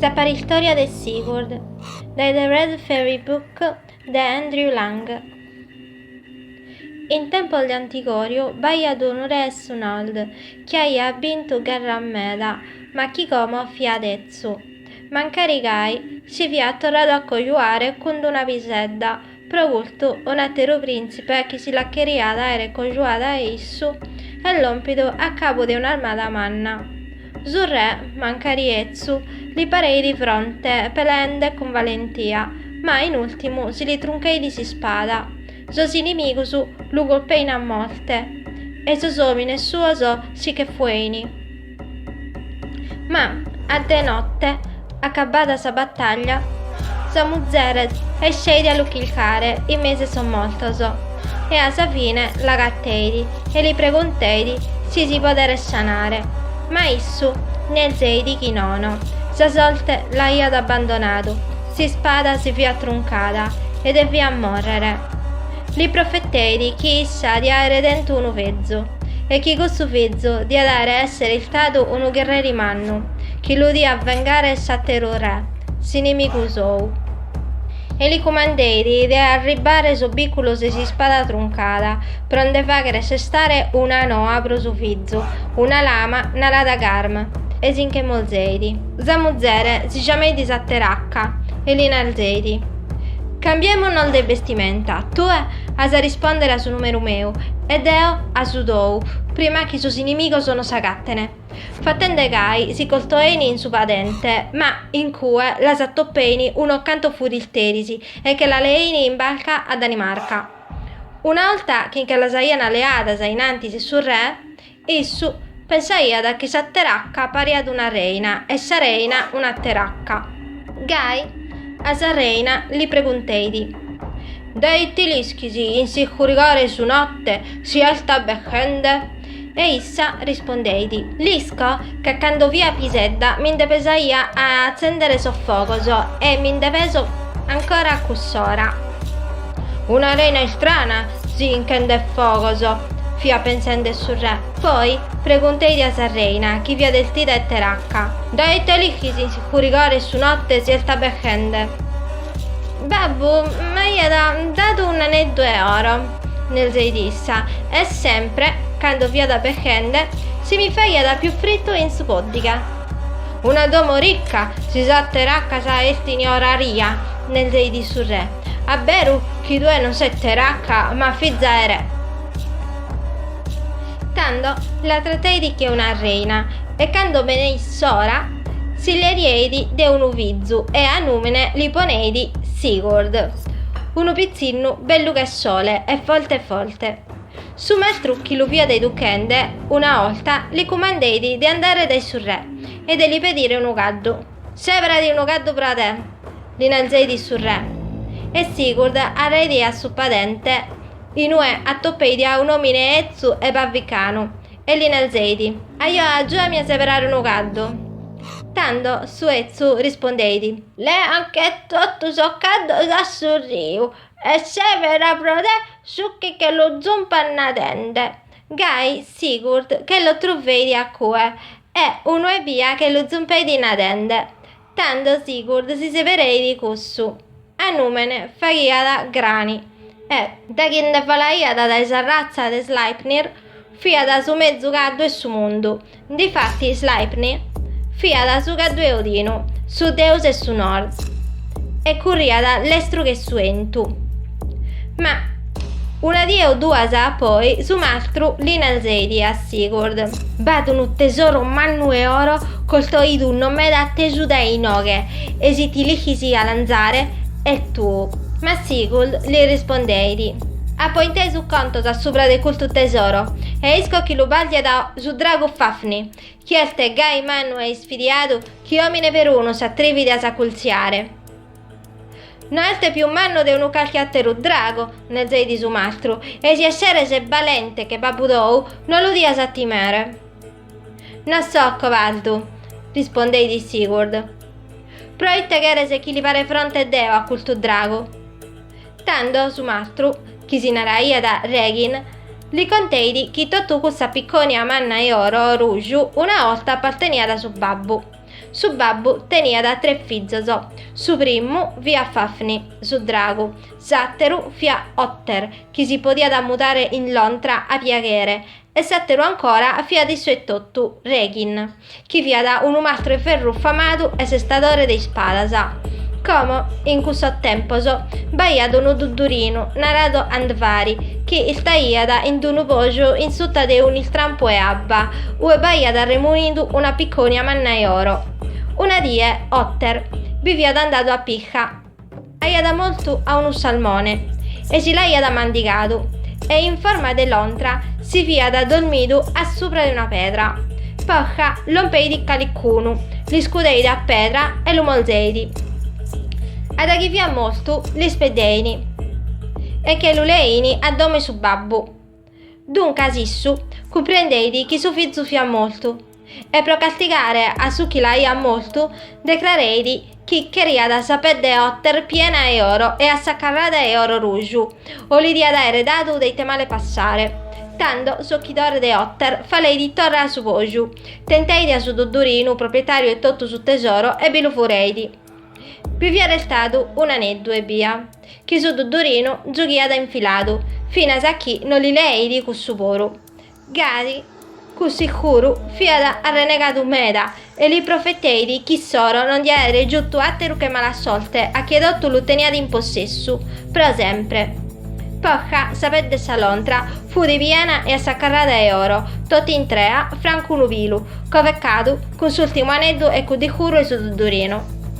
Sa paristòria de Sigurd, dae The Red Fairy Book de Andrew Lang In tempos de antigòriu b'aiat unu re 'e su Nord chi aiat bintu gherras meda ma chi como fiat etzu mancari gai si fiat torradu a cojuare cun d-una pisedda Pro custu, un'àteru prìntzipe chi si la cheriat àere cojuada a issu est lòmpidu a cabu de un'armada manna. Su re, mancari etzu, li pareit fronte, peleende cun valentia, ma in ùrtimu si li truncheit s'ispada, sos inimigus lu colpein a morte e sos òmines suos si che fuein. Ma a de notte, acabada sa bataglia, sa muzere esceit a lu chilcare in mesu 'e sos mortos e a sa fine l'agateit e li pregonteit si si poderet sanare, ma issu nerzeit chi nono, sa sorte l'aiat abbandonadu, s'ispada si fiat truncada e deviat morrere. Li profeteit chi issa diat aere tentu unu fizu, e chi cussu fizu diat aere essere iltadu unu gherreri mannu, chi lu diat vengare s'àteru re, s'inimigu sou. E li cumandeit de arribbare sos bìculos 'e s'ispada truncada, pro nde faghere sestare una noa pro su fizu, una lama narada Garm, e si nche molzeit. Sa muzere si giameit sa teracca, e li narzeit. Cambièmonos de bestimenta, tue as a rispòndere a su nùmeru meu e deo a su tou, prima chi sos inimigos nos agatene, fatende gai si costoein in su padente, ma in cue las atopein unos cantos furisteris e che las leein in barca a Danimarca. Una 'orta chi nche las aian leadas a in antis 'e su re, Issu pensaiat chi sa teracca pariat una reina e sa reina una teracca. Gai a sa reina li pregunteit, Dae ite l'ischis in s'iscurigore 'e su notte si est albeschende? E issa rispondeit, L'isco ca cando fia pisedda mi nde pesaia a atzendere sos fogos e mi nde peso ancora a cuss'ora. Una reina istrana si inchendet fogos, fiat pensende su re, poi pregunteit a sa reina chi fiat 'estida 'e teracca. Dae ite l'ischis in s'iscurigore 'e su notte si est albeschende? Babbu m'aiat dadu un aneddu 'e oro, nerzeit issa, e sempre, cando fiat albeschende, si mi faghiat pius frittu in su pòddighe. Una domo ricca, si sas teraccas 'estin oraria, nerzeit su re, a beru chi tue non ses teracca, ma fiza 'e re. Tando la trateit che una reina, e cando beneit s'ora, s'illiereit de unu fizu e a nùmene li poneit Sigurd, unu pitzinnu bellu che sole e forte forte. Su mastru chi lu fiat educhende una 'olta li cumandeit de andare dae su re e de li pedire unu caddu. Sèberadi unu caddu pro a te! li narzeit su re. E Sigurd arreit a su padente in ue atoppeit a un'omine 'ezzu e barvicanu, E li narzeidi, Ajo agiuami a seberare unu caddu. Tando su 'ezzu rispondeidi. Lèanche totu sos caddos a su riu e sebera pro te su chi che lu zumpat nadende. Gai Sigurd che los truveidi a cue e unu ebbia che lu zumpeidi nadende. Tando Sigurd si sebereit cussu a nùmene faghiat Grani e, da chi nde falaiat dae sa ratza de Sleipnir, fiat su mezus caddu 'e su mundu. Difatis Sleipnir fiat su caddu 'e Odinu, su deus 'e su nord, e curriat lestru che su 'entu. Ma una die o duas a poi su mastru li narzeidi a Sigurd, B'at unu tesoro mannu 'e oro costoidu no meda tesu dae inoghe, e si ti lighis a 'alanzare, est tuu. Ma Sigurd li rispondeidi, Apo intesu contos a subra de custu tesoro, e isco chi lu bàrdiat su dragu Fafnir, chi est gai mannu e isfidiadu chi omine perunu s'atrividi a s'acultziare. No est pius mannu de unu calchi àteru dragu, nezeit su mastru, e si esseres balente che babbu tou, no lu dias a timere. No so cobaldu, rispondeit Sigurd. Proite cheres chi li pare fronte deo a custu dragu? Tando su mastru, chi si naraiat Regin, li conteit chi totu cussa piccònia manna 'e oro ruju una 'orta apparteniat a su babbu. Su babbu teniat tres fizos, su primu fiat Fafnir, su dragu, s'àteru fiat Otter, chi si podiat mudare in lontra a piaghere, e s'àteru ancora fiat issu etotu, Regin, chi fiat unu mastru 'e ferru famadu e sestadore de ispadas. Como in cussos tempos b'aiat unu duddurinu naradu Andvari, chi istaiat in d-unu poju in suta de un'istrampu 'e abba, ue b'aiat arremunidu una piccònia manna 'e oro. Una die Otter bi fiat andadu a pisca, aiat mortu a unu salmone e si l'aiat mandigadu e in forma de lontra si fiat dormidu a subra de una pedra. Posca lompeit calicunu, l'iscudeit a pedra e lu morzeit. A daghi fiat mortu l'ispeddein e che lu lein a domo 'e su babbu. Duncas issu cumprendeit chi su fizu fiat mortu e pro castigare a su chi l'aiat mortu decrareit chi cheriat sa pedde Otter piena 'e oro e assacarrada 'e oro ruju o li diat aere dadu de ite male passare. Tando s'ochidore de Otter faleit torra a su poju, tenteit a su duddurinu proprietariu 'e totu su tesoro e bi lu fureit. Bi fiat restadu un'aneddu ebbia. chi su Duddurinu zughiat infiladu, finas a chi no li leeit cussu puru. Gasi, cuss'iscuru, fiat arrenegadu meda e li profeteit chi s'oro no nde aeret giutu àteru che mala sorte a chie totu lu teniat in possessu, pro sempre. Posca, sa pedde de sa lontra, fut piena e assacarrada 'e oro, totu intrea, francu unu pilu, covecadu cun s'ùrtimu aneddu 'e cudd'iscuru 'e su Duddurinu.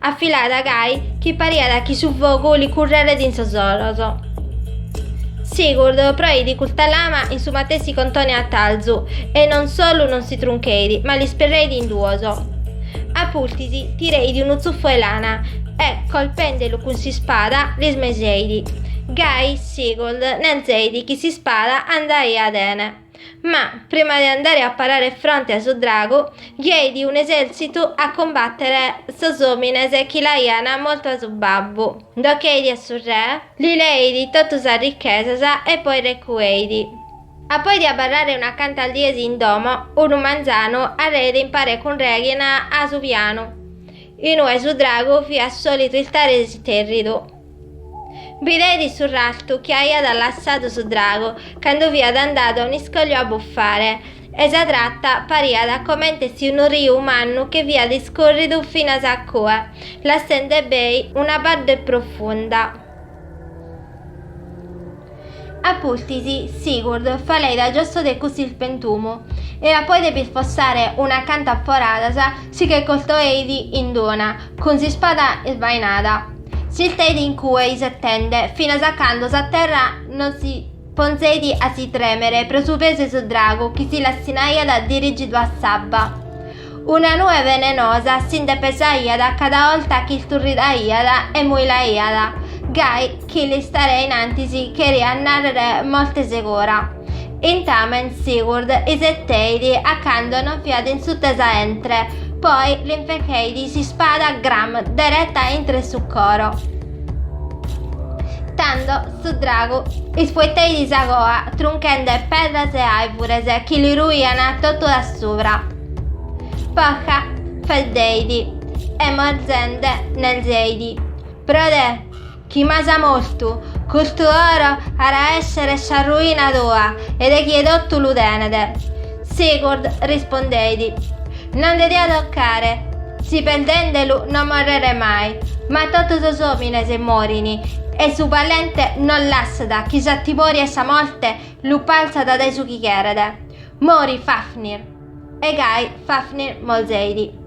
Afilada gai chi pariat chi su fogu li curreret in sos oros. Sigurd proeit custa lama in su matessi contone 'e atarzu e non solu non si truncheit, ma l'isperreit in duos. A pustis tireit unu tzuffu 'e lana e, colpendelu cun s'ispada, l'ismeseit. Gai Sigurd nanzeit chi s'ispada andaiat 'ene. Ma, prima de andare a parare fronte a su dragu, ghieit un'esèrtzitu a cumbàtere sos òmines chi l'aian mortu a su babbu, nd'ocheit a su re, li leit totu sas richesas e poi recueit. A poi de abarrare unas cantas dies in domo, unu manzanu arreit in pare cun Regin a su pianu, in ue su dragu fiat sòlitu istare istèrridu. Bideit su rastu chi aiat lassadu su dragu cando fiat andadu a un'iscòliu a bufare, e sa trata pariat comente si unu riu mannu che fiat iscòrridu finas a cue, lassende bèi una badde profunda. A pustis, Sigurd faleit a giosso de cuss'ispentumu, e a poi de b'isfossare unas cantas foradas si che costoeit in d'una cun s'ispada isbainada. S'isteit in cue isettende finas a cando sa terra non si ponzeit a si tremere pro su pesu 'e su dragu chi si lassinaiat dirigidu a s'abba. Una nue venenosa si nde pesaiat cada 'olta chi isturridaiat e muilaiat, gai chi l'istare in antis cheriat nàrrere morte segura. Intamen Sigurd iseteit a cando non fiat in suta 'e sa 'entre, poi l'infercheit s'ispada Gram dereta intro 'e su coro. Tando su dragu ispueteit sa coa trunchende pedras e aivures chi li ruian totu dae subra. Posca faeddeit e morzende nerzeit, Pro te, chi m'as mortu, custu oro at a essere sa ruina tua e de chie totu lu tenet. Sigurd rispondeit, Non nde dia tocare, si perdendelu no morrere mai, ma totu sos omines morin, e su valente non lassat chi sa timoria 'e sa morte lu palzat dae su chi cheret. Mori Fafnir! E gai Fafnir morzeit.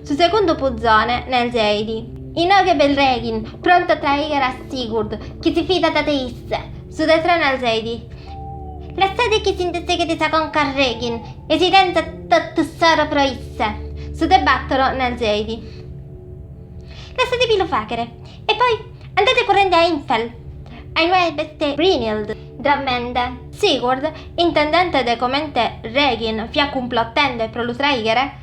Su segundu puzone nerzeit, Inoghe b'est Reghin, prontu a traighere a Sigurd, chi si fidat de isse. Su de tres nerzeit, Lassade chi si nde seghet sa conca a Reghin, e si tenzat totu s'oro pro isse. Su de battoro nerzeit, Lassade bi lu faghere, e poi andare currende a Hindfell, a inue b'est Brynhild drommende. Sigurd, intendente de comente Reghin fiat cumplottende pro lu traighere,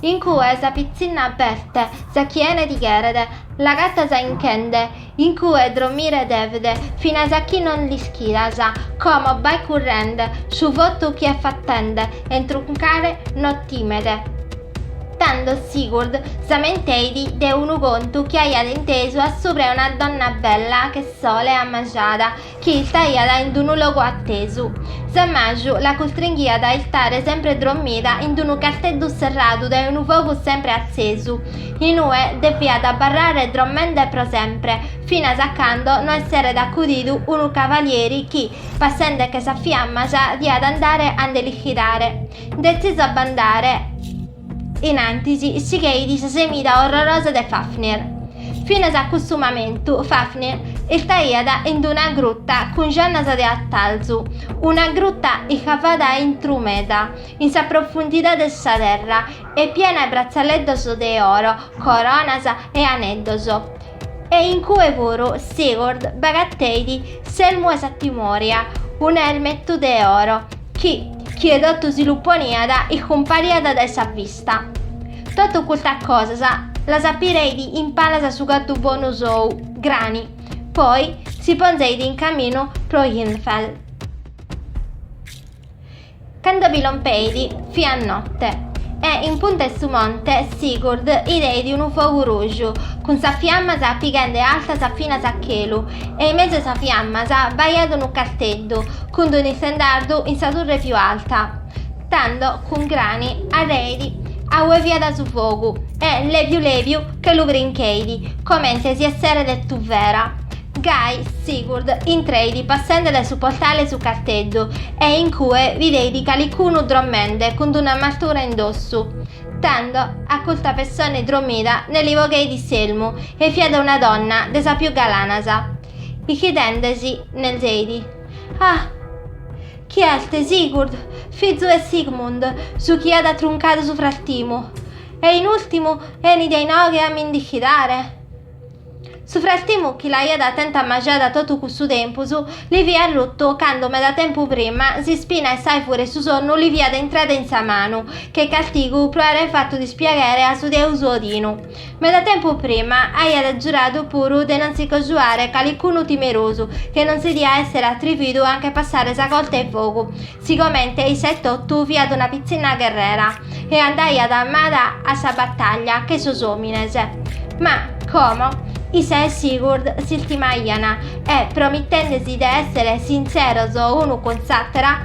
In cue sa pitzinna b'est, sa chi 'ene ti cheret, l'agatas 'inchende, in cue dromire devet, finas a chi non l'ischidas, como bae currende, su votu chi est fatende 'e truncare no timet. Tando Sigurd s'amenteit de unu contu chi aiat intesu a subra 'e una donna bella che sole amajada, chi istaiat in d-unu logu atesu. S'ammaju la custringhiat a istare sempre drommida in d-unu casteddu serradu dae unu fogu sempre atzesu, inue depiat abarrare drommende pro sempre, finas a cando no esseret acudidu unu cavalieri chi, passende che sa fiamma sa diat andare a nde l'ischidare. Detzisu a b'andare, innantis sigheit sa semida orrorosa de Fafnir. Finas a custu mamentu Fafnir istaiat in d-una gruta cun jannas de atalzu, una gruta iscavada a intru meda in sa profundidade de sa terra e piena 'e bratzaleddos de oro, coronas e aneddos, e in cue puru Sigurd b'agateit s'elmu 'e sa timoria, un'elmetu de oro, Chi, chie totu si lu poniat, iscumpariat dae sa vista. Totu custas cosas las apireit in palas a su caddu bonu sou, Grani, poi si ponzeit in caminu pro Hindfell. Cando bi lompeit, fiat notte, e in punta 'e su monte Sigurd 'ideit unu fogu ruju, cun sas fiammas pighende altas finas a chelu, e in mesu 'e sas fiammas b'aiat unu casteddu, Cun d'unu istendardu in sa turre piu alta, tando cun Grani arreidi a ue fiada su fogu e lebiu lebiu che lu brincheidi comente si esseret tuvera. Gai Sigurd intreidi passende dae su portale 'e su carteddu e in cue videidi calicunu drommende cun d'un'armatura in dossu. Tando a custa pessone drommida ne li bogheidi s'elmu e fiada una donna de sas piu galanas. Ichidendesi nelzeidi. Ah! Chi est, Sigurd, fizu 'e Sigmund, su chi at truncadu su frastimu, e in ultimu enit a inoghe a mi nd'ichidare? Su frastimu chi l'aiat tenta ammajada totu cussu tempus, li fiat ruttu cando meda tempu prima s'ispina 'e s'aivure 'e su sonnu li fiat intrada in sa manu, che castigu pro aere fatu dispiaghere a su deus Odinu. Meda tempus prima aiat giuradu puru de non si cojuare calicunu timerosu che non si diat essere atrividu a nche passare sa corta 'e fogu, sigomente issa etotu fiat una pitzinna gherrera e andaiat armada a sa battaglia che sos omines. Ma, como, issa e Sigurd s'istimaian e, promittendesi de essere sinceros unu cun s'attera,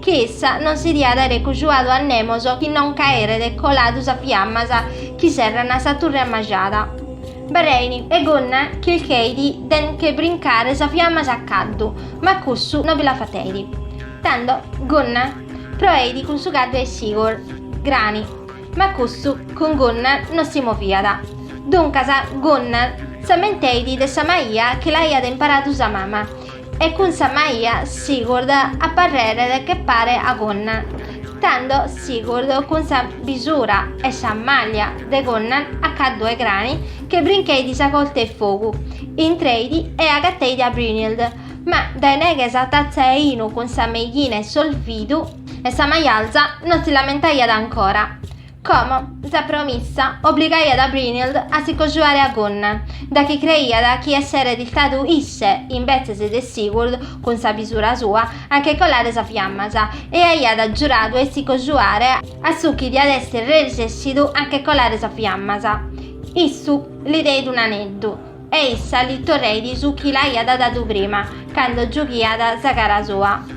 chi issa non si diat aere cojuadu a nemos chi non ch'aeret coladu sas fiammas chi serrana sa turre ammajada. B'arrein e Gunnar chilcheit de nche brincare sas fiammas a caddu, ma cussu no bi la fateit. Tando Gunnar proeit cun su caddu 'e Sigurd, Grani, ma cussu cun Gunnar no si moviat. Duncas Gunnar s'ammenteit de sa maia chi l'aiat imparadu sa mama, E cun sa maia Sigurd a parrere che pare a Gunnar, tando Sigurd cun sa bisura e sa maglia de Gunnar a caddu 'e Grani che brincheit sa corte 'e fogu, intreit e agateit a Brynhild, ma dae neghe 'e sa tazza 'e 'inu cun sa meighina 'e s'olvidu 'e sa maialza non si l'ammentaiat ancora, Como, sa promissa obligaiat a Brynhild a si cojuare a Gunnar, da chi creiat chi esseret istadu isse, imbetzes de Sigurd, cun sa bisura sua, a nche colare sas fiammas, e aiat giuradu 'e si cojuare a su chi diat esser resessidu a nche colare sas fiammas. Issu li deit un'aneddu, e issa li torreit su chi l'aiat dadu prima, cando giughiat sa cara sua.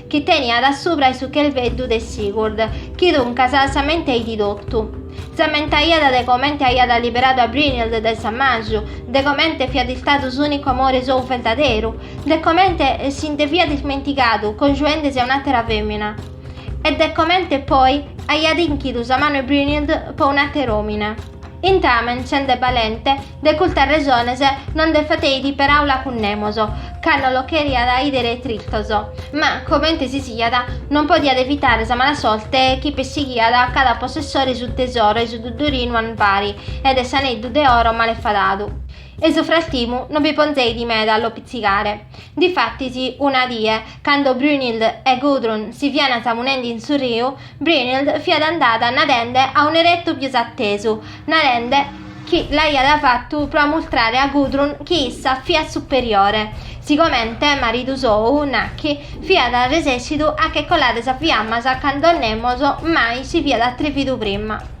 chi teniat a subra 'e su chelveddu de Sigurd, chi duncas s'ammenteidi totu. S'ammentaiat de comente aiat liberadu a Brynhild dae s'ammaju, de comente fiat istadu s'ùnicu amore sou verdaderu, de comente si nde fiat ismentigadu congiuende-si a un'àtera fèmina, e de comente poi aiat inchidu sa manu 'e Brynhild po un'àter'òmine. Intamen, sende balente, De cultas resones no nde fateidi peraula cun nemos, ca no lo cheriat idere tristos, ma, comente si siat, non podiat evitare sa mala sorte chi pessighiat a cada possessore 'e su tesoro 'e su duddurinu Andvari e de s'aneddu de oro male fadadu. E su frastimu no bi ponzeidi meda a lo pitzigare. Difatis, una die, cando Brynhild e Gudrun si fiant samunendi in su riu, Brynhild fiat andada nadende a un'eretu pius atesu, narende chi l'aiat fatu pro amultrare a Gudrun chi issa fiat superiore, sigomente maridu sou, nachi, fiat resessidu a che colare sas fiammas cando nemos mai si fiat atrevidu prima.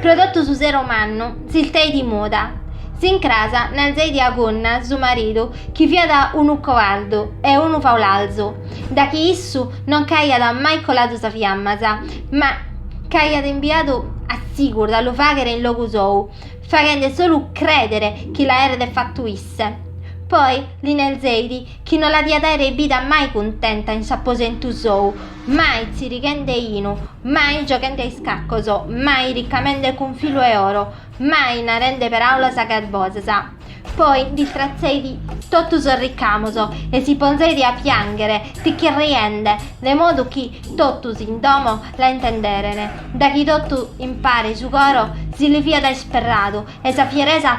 Pro totu su sero mannu s'ilteidi muda. S'incras nalzeidi a Gunnar su maridu chi fiat unu coardu e unu faulalzu, da chi issu non ch'aiat mai coladu sas fiammas, ma ch'aiat imbiadu a Sigurd a lu faghere in logu sou, faghende solu credere chi l'aeret fattu isse. Poi li nerzeit chi no la diat aere bida mai cuntenta in s'aposentu sou, mai tzirighende inu, mai gioghende a iscaccos, mai riccamende cun filu 'e oro, mai narende peràulas garbosas. Poi nd'istratzeit totu sos riccamos e si ponzeit a piànghere tichirriende, de modu chi totus in domo la intenderen, daghi totu impare su coro si li fiat isperradu e sa fieresa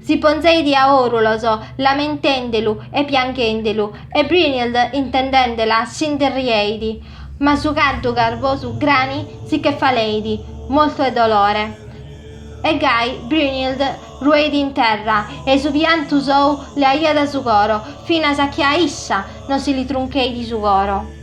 Si ponzeit a òrulos, lamentendelu e pianghendelu, e Brynhild intendendela si nde rieit, ma su caddu garbosu Grani si che faleit, mortu 'e dolore. E gai Brynhild rueit in terra e su piantu sou leaiat su coro, finas a chi a issa no si li truncheit su coro.